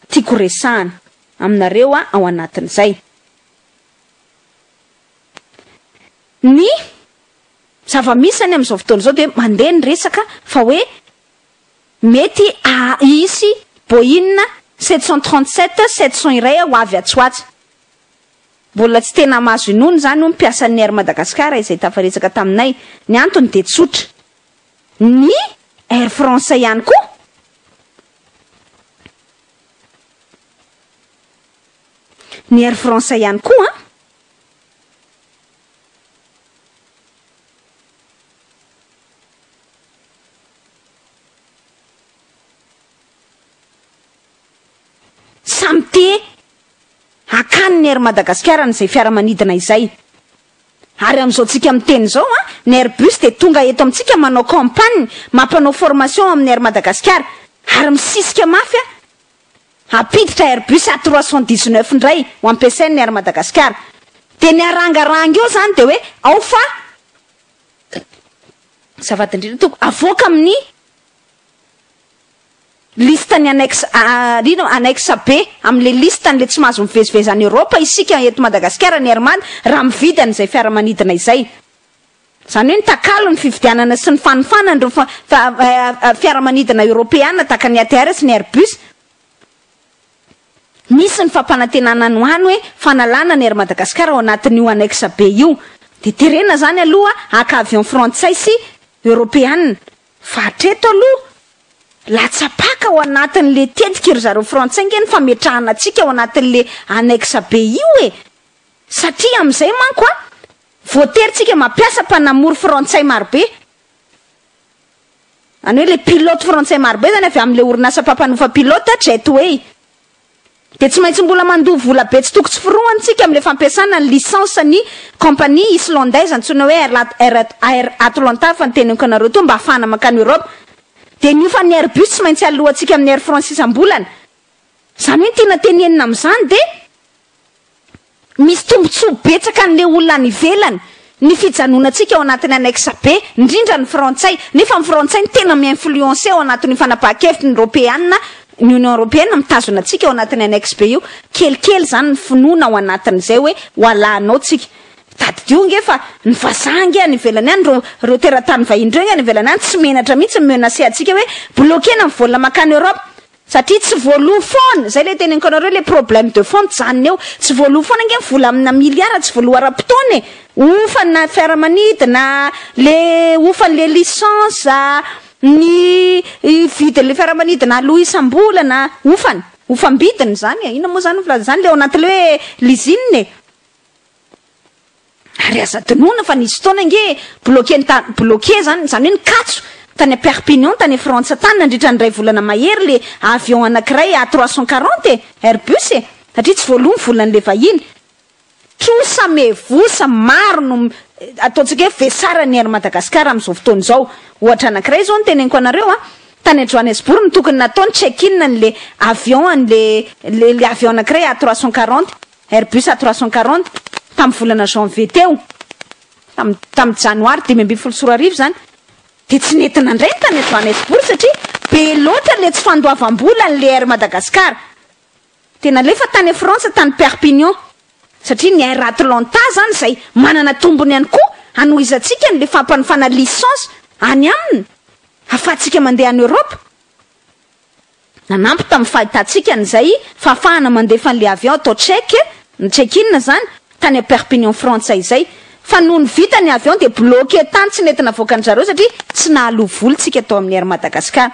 S1: tiako resahana aminareo ao anatin'izay. Ny zava-misy izany amin'izao fotoana izao dia mandeha ny resaka fa hoe mety hisy Boeing sept cent trente sept sept cent iray ho avy atsy ho atsy. Mbola tsy tena mahazo inoana izany hoy ny mpiasan'ny Air Madagascar izay tafaretsaka taminay. Ny antony dia tsotra. Ny Air France ihany koa. Ny Air France ihany koa an. Samy te hakany ny Air Madagasikara an'izay fiaramanidina izay. Ary amin'izao tsika miteny izao an, ny Airbus dia tonga eto amintsika manao campagne, mampanao formation amin'ny Air Madagasikara. Ary misisika mafy an, hampiditra Airbus A trois cent dix neuf indray ho ampiasain'ny Air Madagasikara. Dia ny harangaranga eo izany dia hoe ao fa azafady indrindra tompoko, avoaka amin'ny. Liste ny annexe A, ino? Annexe B, amin'ilay liste an'ilay tsy mahazo mivezivezy any Europe isika eto Madagasikara ny Herman raha mividy an'izay fiaramanidina izay. Izany hoe ny takalo ny fividianana sy ny fanofanana ireo fiaramanidina Europeana tahaka ny ATR sy ny Airbus. Misy ny fampanantenana any ho any hoe fanalana ny Air Madagascar ao anatin'io annexe B io. Dia terena izany aloha haka avion frantsay sy Europeana. Fa hatreto aloha, latsa-paka ao anatin'le tetika ry zareo frantsay nge ny fametrahana antsika ao anatin'le annexe be io e! Satria amin'izay manko an, voatery tsika mampiasa mpanamory frantsay marobe, any hoe le pilote frantsay marobe zany avy amin'le orinasa mpampanofa pilote, Jetway. dia tsy maintsy mbola mandoa vola be tsy toko tsy firohany tsika amin'ilay fampiasana ny licence ny compagnie islandaise antsoina hoe Airlat Air Air Atlanta fa ny teneniko anareo toa mba hafahana mankany Europe dia ny hofan'ny Airbus tsy maintsy alohantsika amin'ny Air France isam-bolana izany hoe ny tiana tenenina amin'izany dia Misy tombontsoa betsaka an'ilay olona any ivelany ny fijanonantsika ao anatin'ny annexe B, indrindra ny frantsay, nefa ny frantsay no tena mi-influencer ao anatin'io fanapahan-kevitry ny Ropeana, ny Union Ropeana mitazona antsika ao anatin'ny annexe B io. Kelikely izany ny finoana ao anatin'izay hoe ho alahanao tsika. Tadidio ange fa ny vazaha ange any ivelany any, ireo ireo teratany vahiny ireo ange any ivelany any tsy menatra mihitsy mi-menacer antsika hoe bloquer-na ny vol mankany Europe. Satria tsy voaloa foana, zay le teneniko anareo le problème de fond mijanona eo, tsy voaloa foana ange ny vola amina milliard tsy voaloa ara-potoana e, hofana fiaramanidina a, le hofan'le licence a, ny vidin'le fiaramanidina aloa isam-bolana a, hofana, hofam-bidiny zany e, inona moa zany ny filazana zany, le ao anatin'le hoe lisine e. Ary aza adinoina fa nisy fotoana ange bloquer-ny tany, bloquer zany, zany hoe nikatso tany à Perpignan tany Frantsa tany nandritra ny iray volana mahery le avion anakiray A trois cent quarante e, Airbus e, satria tsy voaloa ny volan'le vahiny. Trosa mevosa maro no ataontsika hoe vesara ny Air Madagascar amin'izao fotoana izao. Ohatra anakiray zao no teneniko anareo a, tany à Johannesburg no tokony natao ny check-in an'le avion an'le le avion anakiray A trois cent quarante, Airbus A340, tamin'ny volana janvier teo, tamin'ny tamin'ny janoary dimy ambin'ny folo sy roa arivo izany, dia tsy nety nandray ny tany Johannesburg satria be loatra ilay tsy fandoavam-bola an'ilay Air Madagascar. Dia nalefa tany Frantsa, tany Perpignan, satria ny Air Atlanta izany izay manana tombony ihany koa hanohizantsika an'ilay fampanofana licence any aminy ahafahantsika mandeha any Europe. Nanampy tamin'ny fahitantsika an'izay fahafahana mandefa an'ilay avion atao Tchèque, ny check-in izany, tany à Perpignan Frantsa izay. Fa nony vita ny avion dia bloqué tany tsy nety navoaka ny zareo satria tsy nahaloa vola tsika tao amin'ny Air Madagascar.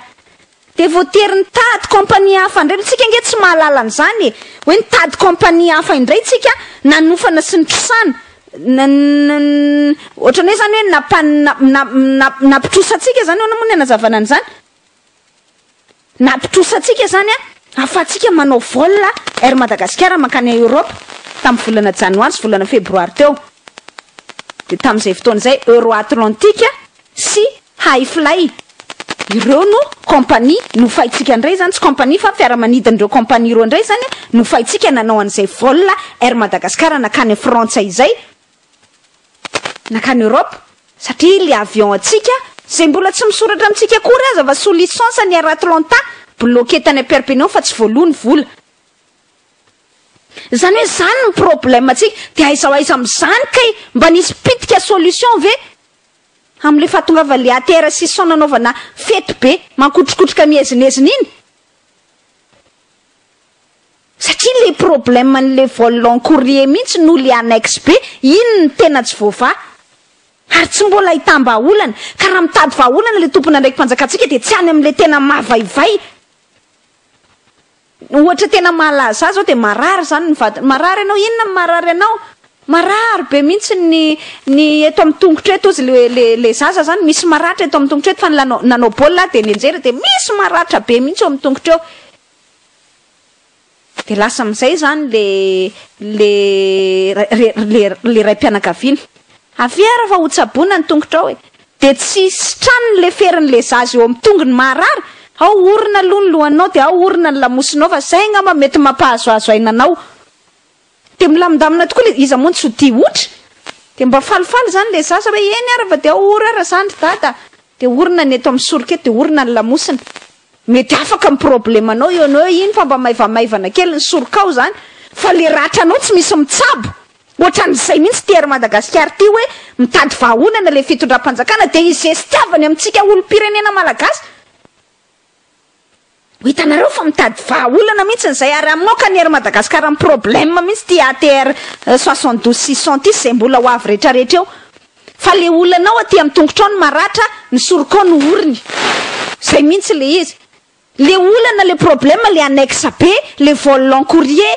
S1: Dia voatery nitady compagnie hafa indray, tsika ange tsy mahalala an'izany e! hoe nitady compagnie hafa indray tsika nanofana sy nitrosana, ohatran'ny hoe izany hoe nampitrosa antsika izany ahoana moa ny hanazavana an'izany? Nampitrosa antsika izany ahafahantsika manao vol Air Madagascar mankany Europe tamin'ny volana Janoary sy volana Febroary teo. Dia tamin'izay fotoana izay Euroatlantic sy Hi-Fly ireo no compagnie nofaintsika indray izany, tsy compagnie fa fiaramanidin'ireo compagnie roa indray izany nofaintsika nanao an'izay vol Air Madagascar nankany Frantsa izay. Nankany Europe satria ilay avion antsika izay mbola tsy misoratra amintsika akory aza fa sous licence ny Air Atlanta bloquer tany Perpignan fa tsy voaloa ny vola. Izany hoe izany ny problème antsika dia aiza ho aiza amin'izany kay? Mba nisy pitika solution ve amin'ilay fahatongavan'ilay ATR six cents nanaovana fety be mankotrokotroka miezinezina iny? Satria le problème ny le vol long courrier mintsy no le annexe be, iny no tena tsy voavaha. Ary tsy mbola ahitam-bahaolana. Ka raha mitady vahaolana le tompon'andraiki-panjakantsika dia tsy any amin'le tena mavaivay. Ny ohatra tena mahalaza ahy zao dia marary izany ny vadiny. Marary ianao? Inona no marary anao? Marary be mintsy ny ny eto amin'ny tongotra eto hozy le le le zaza izany, misy maratra eto amin'ny tongotra eto fa ny lanao nanao baolina aho dia nianjera dia misy maratra be mintsy eo amin'ny tongotra eo. Dia lasa amin'izay izany ilay raim-pianakaviana. Avia ary fa hotsaboina ny tongotrao e! Dia tsy sitrany ny leferin'ilay zaza eo amin'ny tongony maharary, ao orina aloha ny lohanao dia ao orina ny lamosinao fa izay angamba mety mampahazoazo aina anao. Dia milamindamina tokoa ilay, iza moa no tsy ho tia otra? Dia mba falifaly izany ilay zaza hoe, eny ara fa dia or ara izany ry dada a! Dia orina ny eto amin'ny soroka eto, dia orina ny lamosina. Mety afaka ny problemanao eo anao hoe, iny fa mba maivamaivana kely ny sorokao izany, fa ilay ratranao tsy misy mitsabo. Ohatran'izay mihitsy ity Air Madagascar ity hoe, mitady vahaolana ilay fitondram-panjakana dia izestiavany amintsika olom-pirenena malagasy. Ho hitanareo fa mitady vaha olana mihintsiny izay ary hamoaka ny air Madagascar amin'ny problème mihintsy ity ATR 72 600 ity sy izay mbola ho avy rehetra rehetra eo fa ilay olana ao aty amin'ny tongotra ao no maratra ny soroka ao no oriny izay mihintsy ilay izy ilay olana ilay problème ilay annexe be ilay vol long courrier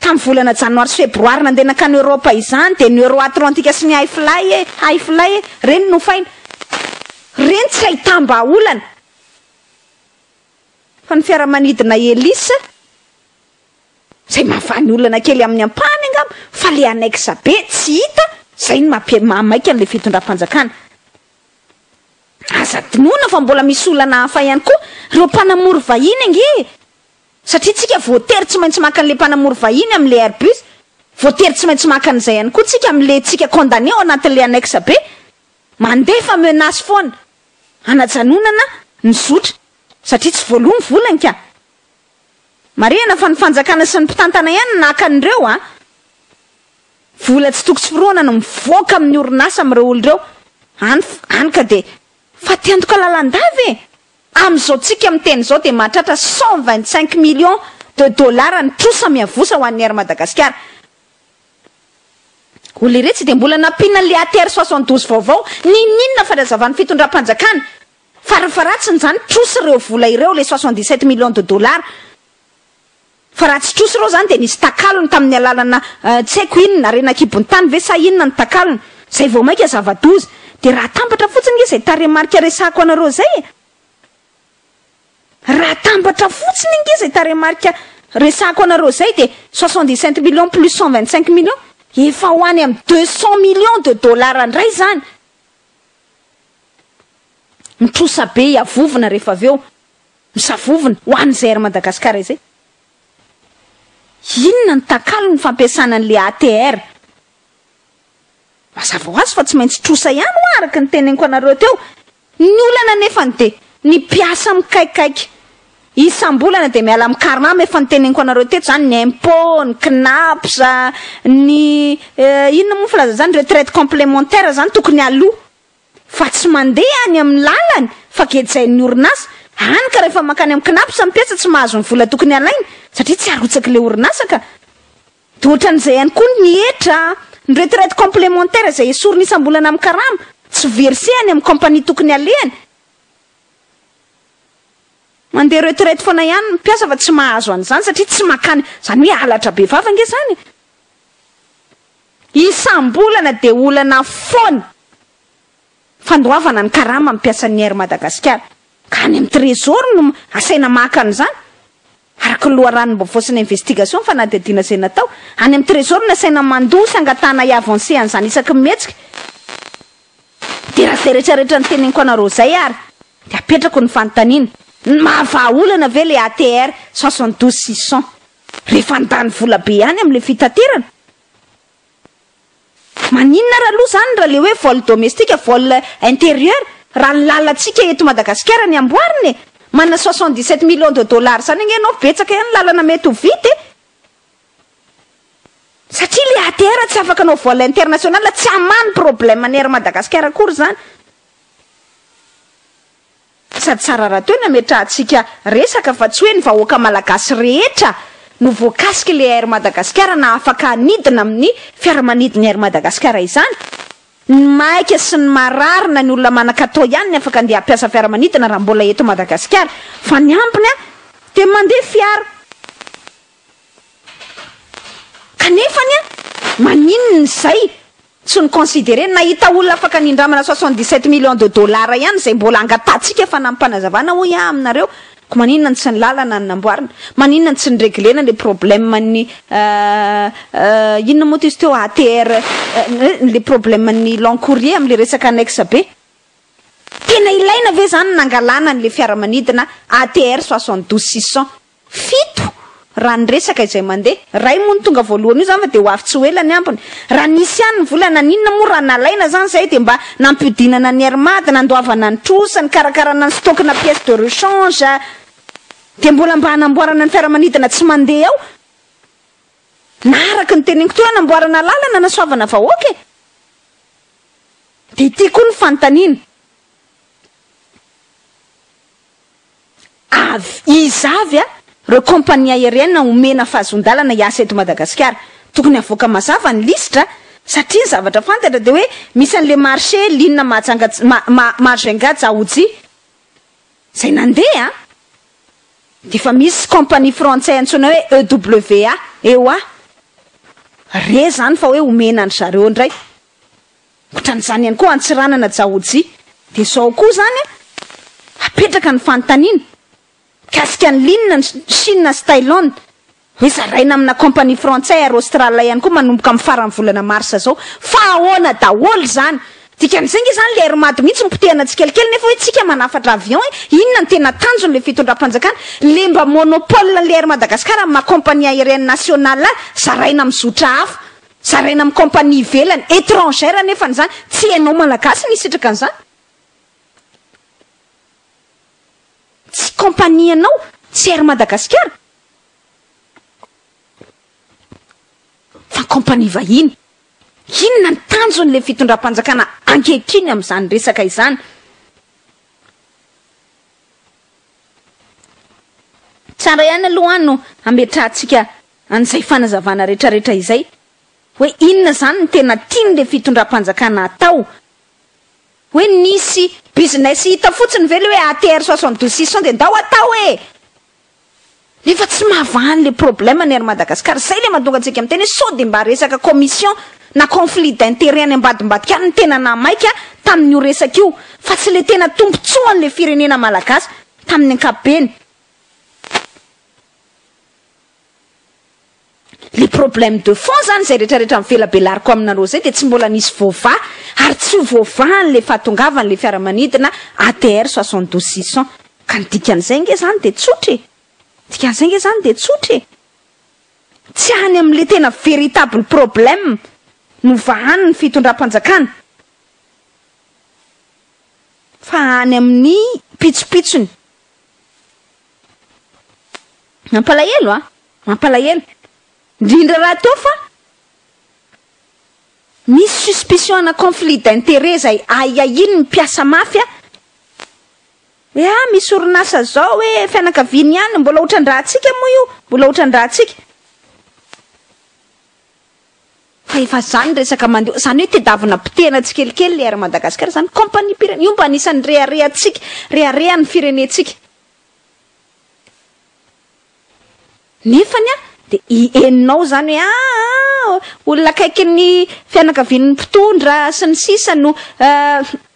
S1: Tamin'ny volana janoary sy febroary nandeha nankany Europe izany dia ny Euro-Atlantika sy ny Hi-Fly e, Hi-Fly e, ireny no nofaina. Ireny tsy ahitam-bahaolana fa ny fiaramanidina Hélice izay mahavany olana kely amin'ny ampahany angamba fa ilay annexe be tsy hita, izay no maha-maika an'ilay fitondram-panjakana. Aza adinoina fa mbola misy olana hafa ihany koa ireo mpanamory vahiny ange e! Satria tsika voatery tsy maintsy maka an'le mpanamory vahiny amin'le Airbus, voatery tsy maintsy maka an'izay ihany koa tsika amin'le tsika condamné ao anatin'le annexe be. Mandefa menace foana, hanajanonana ny zotra, satria tsy voaloa ny volany ka. Marihana fa ny fanjakana sy ny mpitantana ihany no naka an'ireo a. Vola tsy toko tsy firohana no mivoaka amin'ny orinasa amin'ireo olona ireo, any, any ka dia. Fa te-handoka lalandava e! Amin'izao tsika miteny izao dia mahatratra cent vingt cinq millions de dollars ny trosa miavosa ho an'ny Air Madagasikara. Ho leretsy dia mbola nampiana an'ilay ATR soixante douze vaovao, ninoninona fa nazavan'ny fitondram-panjakana fa rafa ratsiny izany trosa ireo vola ireo, ilay soixante dix sept millions de dollars. Fa raha tsy trosa ireo izany dia nisy takalony tamin'ny alalana tsy haiko inona, harena an-kibon'ny tany ve sa inona ny takalony, izay vao mainka zava-doza. Dia raha atambatra fotsiny nge izay tarehimarika resahako anareo izay e! Raha atambatra fotsiny nge izay tarehimarika resahako anareo izay dia soixante-dix sept millions plus cent vingt cinq millions, efa ho any amin'ny deux cent millions de dollars indray izany. Mitrosa be, hiavovona rehefa avy eo. Misavovona ho an'izay Air Madagascar izay. Inona no takalon'ny fampiasana an'ilay ATR? Mazava ho azy fa tsy maintsy trosa ihany ho'a araka ny teneniko anareo teo. Ny olana anefany dia ny mpiasa mikaikaika. Isam-bolana dia miala amin'ny Carnam efa noteneniko anareo teto izany, ny impôts, ny Cnaps, ny inona moa ny filazana izany, retraite complémentaire izany tokony aloa. fa tsy mandeha any amin'ny lalany fa gejain'ny orinasa, hany ka rehefa mankany amin'ny Cnaps ny mpiasa tsy mahazo ny vola tokony halainy satria tsy arotsaky ilay orinasa ka. Dia ohatran'izay ihany koa ny hetra, ny retraite complémentaire izay esorina isam-bolana amin'ny karama, tsy verser any amin'ny compagnie tokony halehany, mandeha retraite foana ihany ny mpiasa fa tsy mahazo an'izany satria tsy mankany, izany hoe halatra be vava ange izany e! Isam-bolana dia olana foana fandoavana ny karama amin'ny mpiasan'ny Air Madagasikara, ka any amin'ny Trésor no asaina maka an'izany, araka ny loharanom-baovao sy ny investigation fanadihadiana izay natao. Any amin'ny Trésor no asaina mandoa sy angatahana hi-avancer an'izany isaky ny mihetsika. Dia raha izay rehetra rehetra noteneniko anareo izay ary dia apetrako ny fanontaniana, ny maha vahaolana ve ilay ATR 72 600? Rehefa handany vola be ihany amin'ilay fitaterana. Maninona ary aloha izany raha ilay hoe vol domestique, vol intérieur, raha ny lalantsika eto Madagasikara ny amboarina e! Manana soixante dix sept millions de dollars izany ange ianao, betsaka ihany ny lalana mety ho vita e! Satria ilay ATR tsy afaka hanao vol international, tsy hamaha ny problème an'i Air Madagascar akory izany. Sady tsara raha toa nametrahantsika resaka fa tsy hoe ny vahoaka malagasy rehetra no voakasik'i le Air Madagasikara na afaka hanidina amin'ny fiaramanidin'ny Air Madagasikara izany. Ny maika sy ny marary na ny olona manan-katao ihany ny afaka andeha hampiasa fiaramanidina raha mbola eto Madagasikara. Fa ny ambiny dia mandeha fiara. Kanefany an! maninona izay tsy no considerer? Nahita olona afaka nindramana soixante dix sept millions de dollars ihany izay mbola angatahantsika fanamim-panazavana hoy aho aminareo, ko maninona no tsy ny lalana no namboarina? maninona no tsy ny reglena ilay problème ny inona moa izy teo ATR ilay problème ny long courrier amin'ilay resaka annexe be? tena ilaina ve izany ny nangalana an'ilay fiaramanidina ATR soixante douze six cent? fito raha ny resaka izay mandeha. Ray moa no tonga voalohany io zany fa dia ho avy tsy ho ela ny ambiny. Raha nisy ihany ny vola naninona moa raha nalaina zany zay dia mba nampiodinana ny Air Mad, nandoavana ny trosa, nikarakarana ny stock na pièce de rechange dia mbola mba hanamboarana ny fiaramanidina tsy mandeha ao na araka ny teneniko teo hanamboarana lalana hanasoavana vahoaka e! Dia ity koa ny fanontaniana. avy iza avy a reo compagnie aérienne omena fahazoan-dalana hiasa eto Madagasikara? Tokony havoaka mazava ny lisitra a! Satria ny zavatra fantatra dia hoe misy an'le marché Lina Mahajanga Mahajengà Dzaoudzi izay nandeha a! Dia efa misy compagnie frantsay antsoina hoe EWA, EWA, re izany fa hoe omena an-dry zareo indray. Otran'izany ihany koa Antsiranana Jaoji. Dia izao koa izany hapetraka ny fanontaniana mikasika ny ligne ny Chine sy Thailand hoe zaraina amina compagnie frantsay ary Australe ihany koa manomboka amin'ny faran'ny volana mars izao fa ahoana daholo izany? Dikan'izay nge izany ilay RMAD mihitsy no potehana tsikelikely nefa hoe tsika manafatra avion e! Inona no tena tanjony ilay fitondram-panjakana? Ilay mba monopole an'ilay Air Madagascar amin'ny maha compagnie aérienne nationale ahy zaraina amin'ny zotra hafa. Zaraina amin'ny compagnie ivelany, etrangère anefa izany, tsy ianao malagasy no hisitraka an'izany. Tsy compagnie anao, tsy Air Madagasikara, fa compagnie vahiny. Inona ny tanjon'ilay fitondram-panjakana ankehitriny amin'izany resaka izany? Tsara ihany aloha no hametrahantsika an'izay fanazavana retraretra izay hoe inona izany no tena tian'ilay fitondram-panjakana hatao. Hoe nisy business hita fotsiny ve ilay hoe ATR soixante douze six cent dia ndao hatao e! Nefa tsy mahavaha le problème ny Air Madagascar, zay le mahatonga antsika miteny hoe sao de mba resaka commission na conflit d'intérêt any ambadimbadika any no tena naha maika tamin'io resaka io fa tsy le tena tombotsoan'le firenena malagasy tamin'ny ankapobeny. Le problème de fond zany izay rehetra rehetra mivelabelariko aminareo zay dia tsy mbola nisy voavaha ary tsy ho voavaha an'le fahatongavany le fiaramanidina ATR 72 600 ka ny dikan'izay nge zany dia tsotra e! Dikan'izay nge zany dia tsotra e! Tsy any amin'le tena véritable problème no vahany ny fitondram-panjakana fa any amin'ny pitsopitsony. Mampalahelo a! Mampalahelo. Indrindra raha toa fa misy suspicion ana conflit d'interet izay ahiahian'ny mpiasa mafy a! Hoe ah misy orinasa izao hoe fianakaviany ihany, mbola otran-dRahatsika moa io, mbola otran-dRahatsika. Fa efa izany resaka mandeha, izany hoe tedavina potehina tsikelikely ilay Air Madagascar izany, compagnie-pirenena, io mba anisan'ny reharehantsika, reharehan'ny firenentsika. Nefany a, dia i henonao izany hoe aa olona akaikin'ny fianakavian'ny mpitondra sy ny sisa no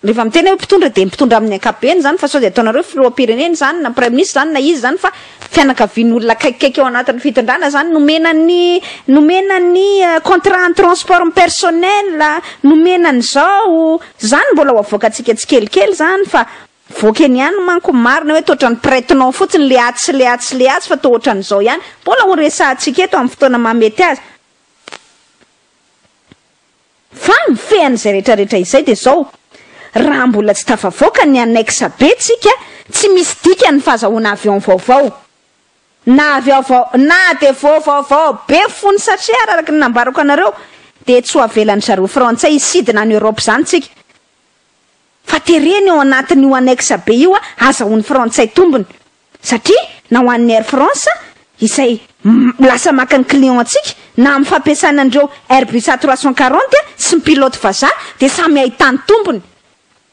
S1: rehefa miteny hoe mpitondra dia mpitondra amin'ny ankapobeny izany fa sao dia ataonareo filoham-pirenena izany na praiminisitra izany na iza izany fa fianakavian'olona akaikikaiky ao anatin'ny fitondrana izany nomena ny nomena ny contrat en transport personnel, nomena an'izao, izany mbola ho avoakantsika tsikelikely izany fa Mivoaka eny ihany manko ny marina hoe toa otrany prête-nom fotsiny le atsy sy le atsy sy le atsy fa toa otrany izao ihany. Mbola ho resahantsika eto amin'ny fotoana mahamety azy. Fa ny mifehan'izay rehetra rehetra izay dia izao, raha mbola tsy tafavoaka ny annexe B tsika, tsy misy dikany ny fahazahoana avion vaovao. Na avion vao na dia vao vaovao be fony satria araraky ny nambarako anareo dia tsy ho avelan'izareo frantsay hisidina any Europe izany tsika. fa tereny ao anatin'io annexe be io azahoan'ny frantsay tombony satria na ho an'ny Air France izay lasa maka ny client antsika na amin'ny fampiasana an'ireo Airbus A trois cent quarante sy ny pilote vazaha dia samy ahitany tombony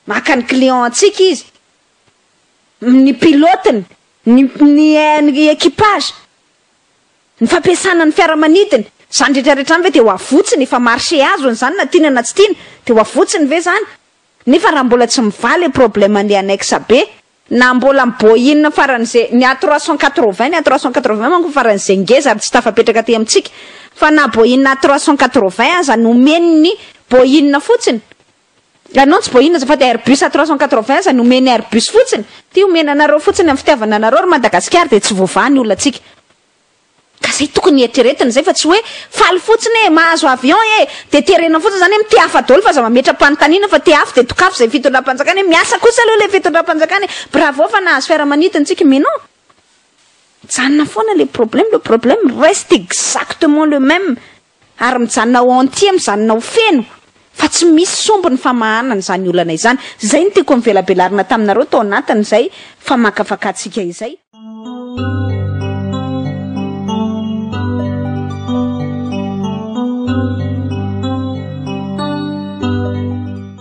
S1: maka ny client antsika izy ny pilotiny ny ny équipage Ny fampiasana ny fiaramanidina, izany retraretra izany ve dia ho avotsiny, efa marche azony izany na tiana na tsy tiana, dia ho avotsiny ve izany? Nefa raha mbola tsy mivaha ilay problème an'ilay annexe be, na mbola miboin faran'izay, ny a trois cent quatre vingt, ny a trois cent quatre vingt manko faran'izay ngeza ary tsy tafapetraka aty amintsika, fa na boin a trois cent quatre vingt aza nomeny ny boin fotsiny, Ianao tsy boina azafady Airbus à trois cent quatre-vingts no omeny Airbus fotsiny Ty omena anareo fotsiny am fitiavana anareo ry Madagasikara dia tsy voavaha ny olantsika Ka zay tokony hieritreretina zay fa tsy hoe faly fotsiny e mahazo avion e dia terena fotsiny zany am ty hafa daoly fa aza mametra panontaniana fa ty afo dia dokafo zay fitondrampanjakana e miasa kosa aloha le fitondrampanjakana e bravo fa nahazo fiaramanidina tsika mais non mijanona foana le problème le problème reste exactement le même ary mijanona ao entier mijanona ao feno fa tsy misy sombiny famahana an'izany olana izany, izay no tiako nivelabelarina taminareo tao anatin'izay famakafakatsika izay.